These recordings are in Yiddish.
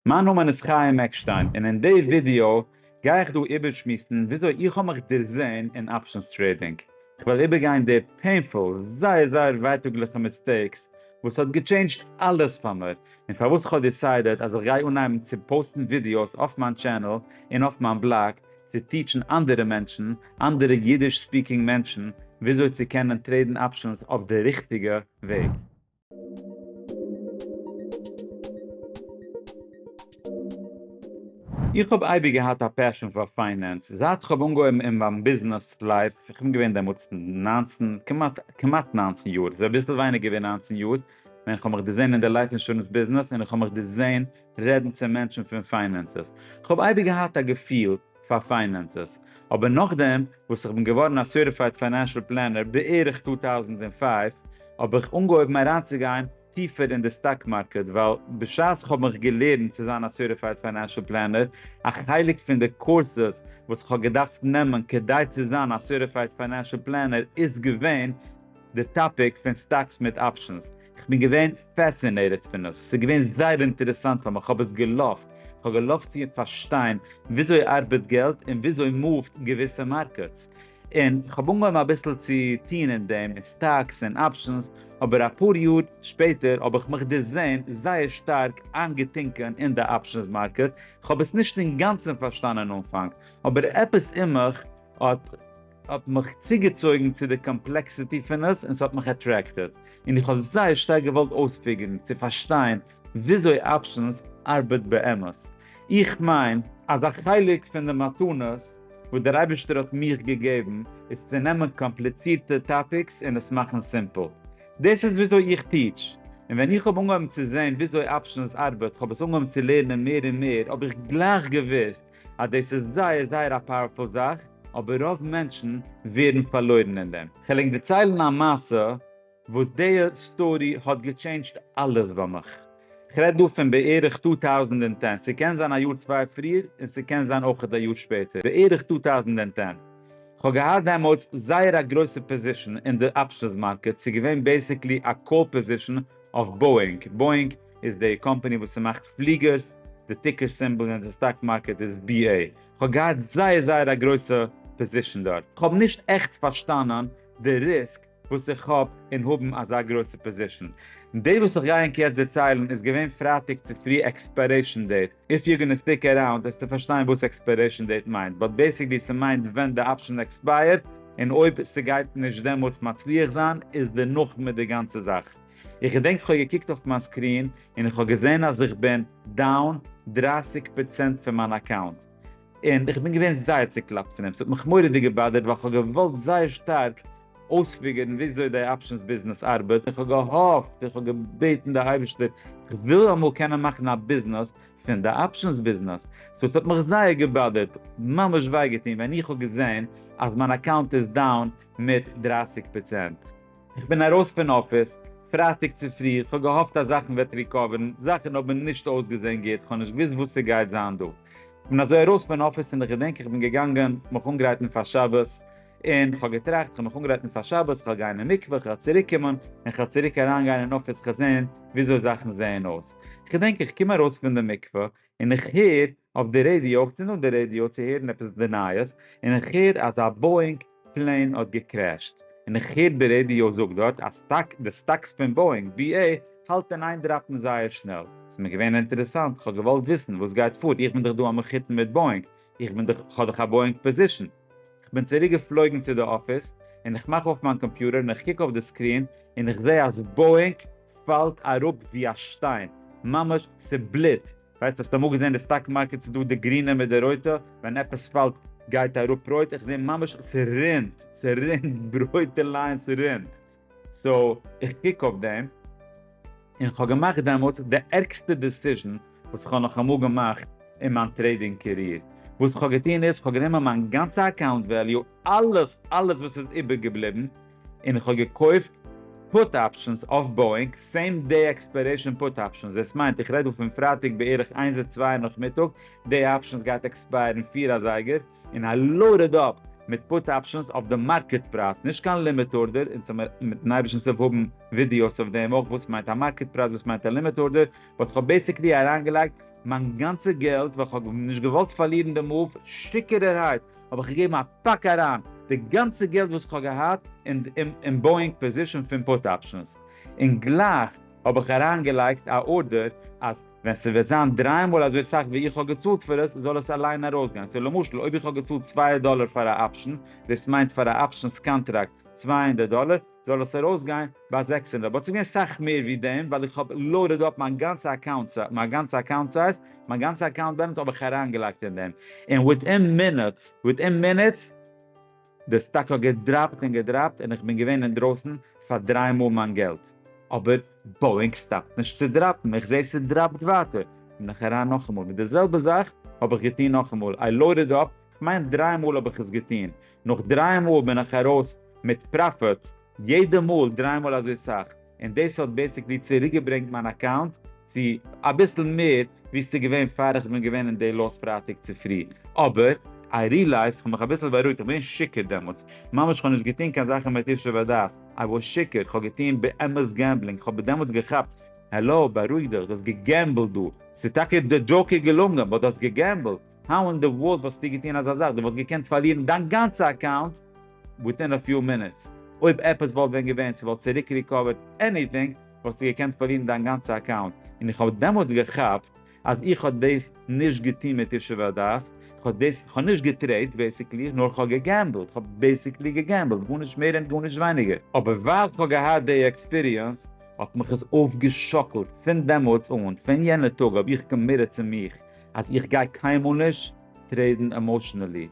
מיין נאמען איז חיים עקשטיין און אין די ווידעא גיי איך דא איבערשמועסן וויאזוי איך האב מיך דערזעהן אין אפשענס טרעידינג, איך וועל איבערגיין די פעינפול, זייער זייער ווייטאגליכע מיסטעיקס וואס האט געטשעינדזשט אלעס פאר מיר, און פארוואס איך האב דיסיידעט אז איך גיי אנהייבן צו פאוסטן ווידעאס אויף מיין טשענעל און אויף מיין בלאג צו טיטשן אנדערע מענטשן, אנדערע אידיש ספיקינג מענטשן, וויאזוי צו קענען טרעידן אפשענס אויף די ריכטיגע וועג. איך האב אייביג געהאט א פעשען פאר פיינענס זייט כ'האב אנגעהויבן אין מיין ביזנעס לייף, איך בין געווען דעמאלטס ניינצן, כמעט כמעט ניינצן יאר, ס'איז אביסל ווייניגער ווי ניינצן יאר, ווען כ'האב מיך דערזען אין די לייף אינשורענס ביזנעס און איך האב מיך דערזען רעדן צו מענטשן פון פיינענסעס, כ'האב אייביג געהאט א געפיל, פאר פיינענסעס, אבער נאכדעם וואס איך בין געווארן א סערטיפייד פיינענשעל פלענער בערך טו טויזנט און פֿינף, האב איך אנגעהויבן אריינצוגיין טיפער אין די סטאק מארקעט, ווייל בשעת איך האב מיך געלערנט צו זיין א סערטיפייד פיינענשעל פלענער, א חלק פון די קורסעס וואס איך האב געדארפט נעמען כדי צו זיין א סערטיפייד פיינענשעל פלענער איז געווען, די טאפיק פון סטאקס מיט אפשענס, כ'בין געווען פעסינעיטעד פון עס, ס'איז געווען זייער אינטערעסאנט פאר מיר, כ'האב עס געלאווט, כ'האב געלאווט צו פארשטיין וויאזוי ארבעט געלט און וויאזוי מאווט געוויסע מארקעטס, און כ'האב אנגעהויבן אביסל צו טון אין דעם, אין סטאקס און אפשענס, אבער אפאר יאר שפעטער האב איך מיך דערזען זייער שטארק איינגעטינקען אין די אפשענס מארקעט, כ'האב עס נישט אינגאנצן פארשטאנען אנפאנג, אבער עפעס אין מיך האט. האט מיך צוגעצויגן צו די קאמפלעקסיטי פון עס און ס'האט מיך אטרעקטעד און איך האב זייער שטארק געוואלט אויספיגערן צו פארשטיין וויאזוי אפשענס ארבעט באמת. איך מיין. אז א חלק פון די מתנות וואס דער אייבערשטער האט מיך געגעבן איז צו נעמען קאמפליצירטע טאפיקס און עס מאכן סימפל. דאס איז וויאזוי איך טיטש. און ווען איך האב אנגעהויבן צו זען וויאזוי אפשענס ארבעט, כ'האב עס אנגעהויבן צו לערנען מער און מער, האב איך גלייך געוואוסט אז דאס איז זייער זייער א פאוערפול זאך, אבער רוב מענטשן ווערן פארלוירן אין דעם. כ'וועל ענק דערציילן א מעשה וואס די סטארי האט געטשעינדזשט אלעס ביי מיך. כ'רעד דא פון בערך טו טאוזנט און טען, ס'קען זיין א יאר צוויי פריער און ס'קען זיין אויכעט א יאר שפעטער, בערך טו טאוזנט און טען. כ'האב געהאט דעמאלטס זייער א גרויסע פאזישן אין די אפשענס מארקעט, ס'געווען בעיסיקלי א קאל פאזישן אויף באואינג, Boeing, איז די קאמפעני וואס ס'מאכט פליגערס, די טיקער סימבאל אין די סטאק מארקעט איז BA. כ'האב געהאט זייער זייער א גרויסע פאזישן דארט. כ'האב נישט עכט פארשטאנען די ריסק וואס איך האב אין האבן אזא גרויסע פאזישן. די וואס איך גיי ענק יעצט דערציילן איז געווען פרייטאג צופרי עקספיירעישן דעיט, איף יו גאנא סטיק אראונד העסטו פארשטיין וואס עקספיירעישן דעיט מיינט, באט בעיסיקלי ס'מיינט ווען די אפשען עקספייערט, און אויב ס'גייט נישט דעמאלטס מצליח זיין איז דערנאך מיט די גאנצע זאך. איך געדענק כ'האב געקוקט אויף מיין סקרין און איך האב געזען אז איך בין דאון דרײַסיק פראצענט פון מיין אקאונט, און איך בין געווען זייער צוקלאפט פון דעם, ס'האט מיך מורא'דיג געבאדערט ווייל כ'האב געוואלט זייער שטארק אויספיגערן וויאזוי די אפשענס ביזנעס ארבעט און כ'האב געהאפט און כ'האב געבעטן די אייבערשטער כ'וויל אמאל קענען מאכן א ביזנעס פון די אפשענס ביזנעס, סאו ס'האט מיך זייער געבאדערט, ממש וויי געטון ווען איך האב געזען אז מיין אקאונט איז דאון מיט דרײַסיק פראצענט. איך בין ארויס פון אפיס פרייטאג צופרי, איך האב געהאפט אז זאכן וועט ריקאווערן, זאכן האבן נישט אויסגעזען גוט, איך האב נישט געוואוסט וואס ס'גייט זיין דא, איך בין אזוי ארויס פון אפיס און איך געדענק איך בין געגאנגען מיך אנגרייטן פאר שבת, און כ'האב געטראכט כ'האב מיך אנגרייטן פאר שבת, כ'וועל גיין אין מקווה, כ'וועל צוריק קומען, און כ'וועל צוריק אריין גיין אין אפיס, כ'וועל זען וויאזוי זאכן זעען אויס, כ'דענק איך קום ארויס פון די מקווה, און איך הער אויף די רעדיא אויך צו נאר די רעדיא צו הערן עפעס די נייעס און איך הער אז א באואינג פלעין האט געקרעשט און איך הער די רעדיא זאגט דארט אז סטאק די סטאקס פון באואינג ב ע האלט אין איין דראפן זייער שנעל ס'איז מיר געווען אינטערעסאנט איך האב געוואלט וויסן וואס גייט פאר איך בין דאך דא א מחותן מיט באואינג איך בין דאך איך האב דאך א באואינג פאזישן איך בין צוריק געפלויגן צו די אפיס און איך מאך אויף מיין קאמפיוטער און איך קוק אויף די סקרין און איך זעה אז באואינג פאלט אראפ ווי א שטיין, ממש ס'בליט, ווייסט האסט אמאל געזען די סטאק מארקעט ס'איז דא די גרינע מיט די רויטע, ווען עפעס פאלט גייט אראפ רויט, איך זעה ממש ס'רינט, ס'רינט רויטע ליין ס'רינט, סאו איך קוק אויף דעם, און כ'האב געמאכט דעמאלטס די ערגסטע דעסיזשן וואס כ'האב נאך אמאל געמאכט אין מיין טרעידינג קעריער, וואס כ'האב געטון איז כ'האב גענומען מיין גאנצע אקאונט וועליו אלעס אלעס וואס איז איבערגעבליבן, און כ'האב געקויפט פוט אפשענס אויף באואינג סעים דעי עקספיירעישאן פוט אפשענס, דאס מיינט איך רעד דא פון פרייטאג בערך איינס און צוויי נאכמיטאג, דעי אפשענס גייט עקספייערן פֿיר אזייגער, און איי לאודעד אפ מיט פוט אפשענס אויף די מארקעט פרייז, נישט קיין לימיט ארדער, אונז וועל מיר מיטן אייבערשטנ'ס הילף האבן ווידיאוס אויף דעם אויך וואס מיינט א מארקעט פרייז וואס מיינט א לימיט ארדער, באט כ'האב בעיסיקלי אריינגעלייגט מיין גאנצע געלט ווייל כ'האב נישט געוואלט פארלירן די מאוו, שיכור'ערהייט! האב איך געגעבן א פאק אריין די גאנצע געלט וואס כ'האב געהאט אין באואינג פאזישאן פון פוט אפשענס, און גלייך האב איך אריין געלייגט א ארדער אז ווען ס'וועט זיין דריי מאל אזוי סאך ווי איך האב געצאלט פאר עס זאל עס אליין ארויס גיין, סאו למשל אויב איך האב געצאלט צוויי דאלער פאר א אפשען, דאס מיינט פאר א אפשענס קאנטראקט צוויי הונדערט דאלער, זאל עס ארויס גיין ביי זעקס און רבע, אבער ס'געווען סאך מער ווי דעם ווייל איך האב לאודעד אפ מיין גאנצע אקאונט סא מיין גאנצע אקאונט סייז, מיין גאנצע אקאונט בעלענס האב איך אריין געלייגט אין דעם, און וויטין מינוטס וויטין מינוטס די סטאק האט געדראפט און געדראפט און איך בין געווען אינדרויסן פאר דריי מאל מיין געלט, אבער באואינג סטאפט נישט צו דראפן איך זעה ס'דראפט ווייטער בין איך אריין נאכאמאל מיט די זעלבע זאך האב איך געטון נאכאמאל איי לאודעד אפ כ'מיין דריי מאל האב איך עס געטון, נאך דריי מאל בין איך ארויס מיט פראפיט, יעדע מאל דריי מאל אזוי סאך, און דאס האט בעיסיקלי צוריקגעברענגט מיין אקאונט צו אביסל מער ווי ס'איז געווען פאר איך בין געווען אין די לאס פרייטאג צופרי, אבער איי רילייזד, כ'האב מיך אביסל בארואיגט, איך בין שיכור דעמאלטס, ממש כ'האב נישט געטון קיין זאכן מיט ישוב הדעת, איי וואס שיכור, כ'האב געטון באמת געמבלינג, כ'האב דעמאלטס געכאפט, העלא, בארואיג דיך, דו האסט געגעמבלט דא, ס'איז טאקע די דזשאוק איז געלונגען, באט דו האסט געגעמבלט. האו אין די ווארלד וואלסטו געטון אזא זאך? דו וואלסט געקענט פארלירן דיין גאנצע אקאונט וויטין א פיו מינוטס. אויב עפעס וואלט ווען געווען, ס'וואלט צוריק ריקאווערט עניטינג, וואלסטו געקענט פארלירן דיין גאנצע אקאונט. און איך האב דעמאלטס געכאפט אז איך האב דאס נישט געטון מיט ישוב הדעת, איך האב דאס, איך האב נישט געטרעיד בעיסיקלי, נאר איך האב געגעמבלט, איך האב בעיסיקלי געגעמבלט, גארנישט מער און גארנישט ווייניגער. אבער ווייל איך האב געהאט די עקספיריענס, האט מיך עס אויפגעשאקלט. פון דעמאלטס אן, פון יענע טאג האב איך קאמיטעד צו מיך אז איך גיי קיינמאל נישט טרעידן עמאשענעלי,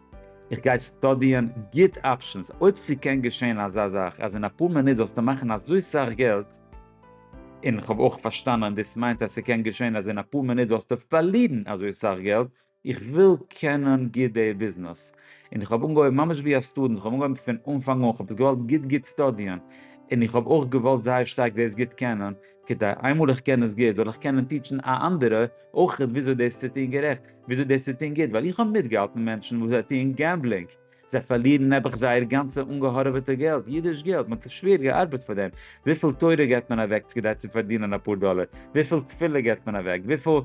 איך גיי סטאדיען גוט אפשענס, אויב ס'קען געשען אזא זאך אז אין אפאר מינוט זאלסטו מאכן אזוי סאך געלט, און איך האב אויך פארשטאנען דאס מיינט אז ס'קען געשען אז אין אפאר מינוט זאלסטו פארלירן אזוי סאך געלט, איך וויל קענען גוט די ביזנעס, און איך האב אנגעהויבן ממש ווי א סטודענט, איך האב אנגעהויבן פון אנפאנג אן, איך האב עס געוואלט גוט גוט סטאדיען, און איך האב אויך געוואלט זייער שטארק דאס גוט קענען, כדי איינמאל איך קען עס גוט זאל איך קענען טיטשן א אנדערע אויכעט וויאזוי דאס צו טון גערעכט, וויאזוי דאס צו טון גוט, ווייל איך האב מיטגעהאלטן מענטשן וואס זיי טוען געמבלינג, זיי פארלירן נעבעך זייער גאנצע אנגעהארעוועטע געלט, אידיש געלט, מען האט שווער געארבעט פאר דעם, וויפיל תורה געבט מען אוועק כדי צו פארדינען אפאר דאלער, וויפיל תפילה געבט מען אוועק, וויפיל.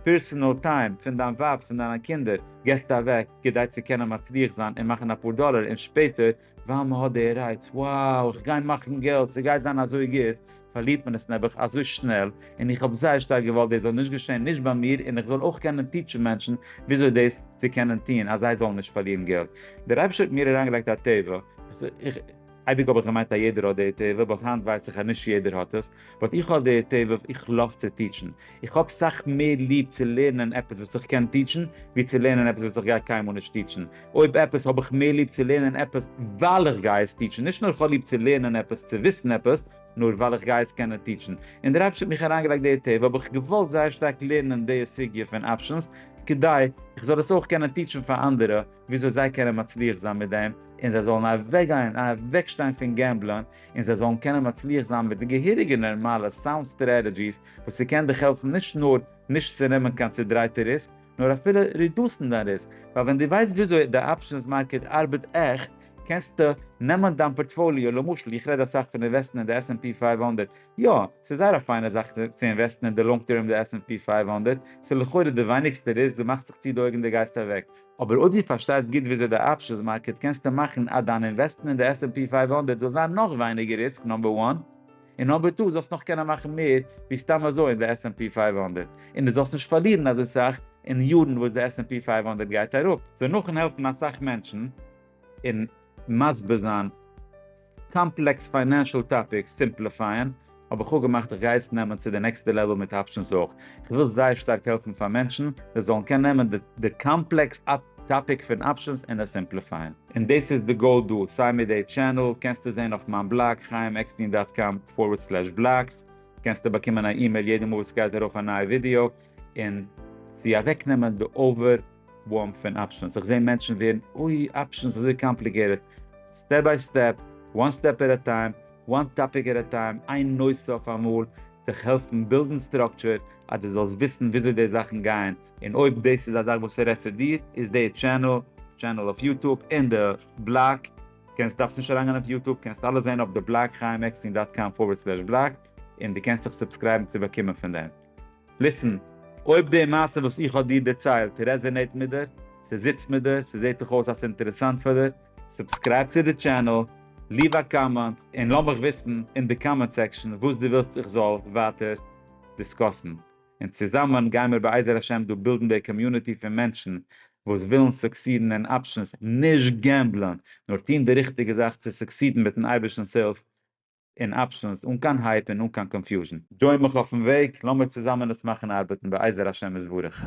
פערסענעל טיים פון דיין ווייב פון דיינע קינדער געסטו אוועק כדי צו קענען מצליח זיין און מאכן אפאר דאלער און שפעטער ווייל מען האט די רייץ wow איך גיי מאכן געלט ס'גייט זיין אזוי גוט פארלירט מען עס נעבעך אזוי שנעל און איך האב זייער שטארק געוואלט דאס זאל נישט געשען נישט ביי מיר און איך זאל אויך קענען טיטשן מענטשן וויאזוי דאס צו קענען טון אז זיי זאלן נישט פארלירן געלט דער אייבערשטער האט מיר אריינגעלייגט א טבע איך אייביג האב איך געמיינט אז יעדער האט די טבע באט היינט ווייס איך אז נישט יעדער האט עס באט איך האב די טבע איך לאוו צו טיטשן, איך האב סאך מער ליב צו לערנען עפעס וואס איך קען טיטשן ווי צו לערנען עפעס וואס איך גיי קיינמאל נישט טיטשן, אויב עפעס האב איך מער ליב צו לערנען עפעס ווייל איך גיי עס טיטשן, נישט נאר איך האב ליב צו לערנען עפעס צו וויסן עפעס, נאר ווייל איך גיי עס קענען טיטשן, און דער אייבערשטער האט מיך אריינגעלייגט די טבע האב איך געוואלט זייער שטארק לערנען די סוגיא פון אפשענס כדי איך זאל עס אויך קענען טיטשן פאר אנדערע וויאזוי זיי קענען מצליח זיין מיט דעם און זיי זאלן אוועקגיין אוועקשטיין פון געמבלען און זיי זאלן קענען מצליח זיין מיט די געהעריגע נערמאלע סאונד סטרעטעדזשיס וואס ס'קען דיך העלפן נישט נאר נישט צו נעמען קיין צודרייטע ריסק נאר אפילו רידוסן דיין ריסק ווייל ווען דו ווייסט וויאזוי די אפשענס מארקעט ארבעט עכט קענסטו נעמען דיין פארטפאליאו למשל איך רעד אסאך פון אינוועסטן אין די עס ענד פי פייוו הונדערט יא ס'איז זייער א פיינע זאך צו אינוועסטן אין די לאנג טערם די עס ענד פי פייוו הונדערט ס'איז לכאורה די ווייניגסטע ריסק דו מאכסט זיך צו די אויגן דו גייסט אוועק אבער אויב דו פארשטייסט גוט וויאזוי די אפשענס מארקעט קענסטו מאכן אז דיין אינוועסטמענט די עס ענד פי פֿינף הונדערט זאל זיין נאך ווייניגער ריסק נאמבער וואן, און נאמבער טו זאלסט נאך קענען מאכן מער ווי סתם אזוי אין די עס ענד פי פֿינף הונדערט און דו זאלסט נישט פארלירן אזוי סאך אין יארן וואס די עס ענד פי פֿינף הונדערט גייט אראפ. סאו נאכן העלפן אסאך מענטשן און מסביר זיין קאמפלעקס פיינענשעל טאפיקס סימפליפייען האב איך אפגעמאכט איך גיי עס נעמען צו די נעקסטע לעוועל מיט אפשענס אויך, איך וויל זייער שטארק העלפן פאר מענטשן זיי זאלן קענען נעמען די קאמפלעקס טאפיק פון אפשענס און עס סימפליפייען. און דאס איז די גאול דא, סיי מיט די טשענעל, קענסטו זעהן אויף מיין בלאג, חיים עקסטין דאט קאם פארווערד סלעש בלאגס, קענסטו באקומען א אימעיל יעדע מאל וואס סגייט ארויף א נייע ווידיאו, און צו אוועקנעמען די אווער. ווארם פון אפשענס, איך זעה מענטשן ווערן אוי אפשענס אזוי קאמפליגעיטעד, סטעפ ביי סטעפ, וואן סטעפ עט א טיים, וואן טאפיק עט א טיים, איין נושא אויף א מאל, דיך העלפן בילדן סטראקטשער אז דו זאלסט וויסן וויאזוי די זאכן גייען. און אויב דאס איז א זאך וואס ס'רעדט צו דיר, איז די טשענעל, טשענעל אויף יוטוב, אין די בלאג, קענסט דארפסט נישט אריינגיין אויף יוטוב, קענסט אלעס זען אויף די בלאג חיים עקסטין דאט קאם פארווערד סלעש בלאג, און דו קענסט זיך סובסקרייבן צו באקומען פון דעם. ליסען, אויב די מעשה וואס איך האב דיר דערציילט רעזענעיט מיט דיר, ס'זיצט מיט דיר, ס'זעהט דיך אויס אז ס'אינטערעסאנט פאר דיר, סובסקרייב צו די טשענעל, ליוו א קאמענט, און לאמיך וויסן אין די קאמענט סעקשאן וואס דו ווילסט איך זאל ווייטער דיסקאסן, און צוזאמען גיימיר בעזר השם דא בילדן די קאמיוניטי פון מענטשן וואס ווילן סוקסידן אין אפשענס, נישט געמבלען, נאר טון די ריכטיגע זאך צו סוקסידן מיטן אייבערשטנ'ס הילף, און אפשענס אן קיין הייפ און אן קיין קאנפיוזשן. דזשוין מיך אויפן וועג, לאמיר צוזאמען עס מאכן ארבעטן בעזר השם יתברך.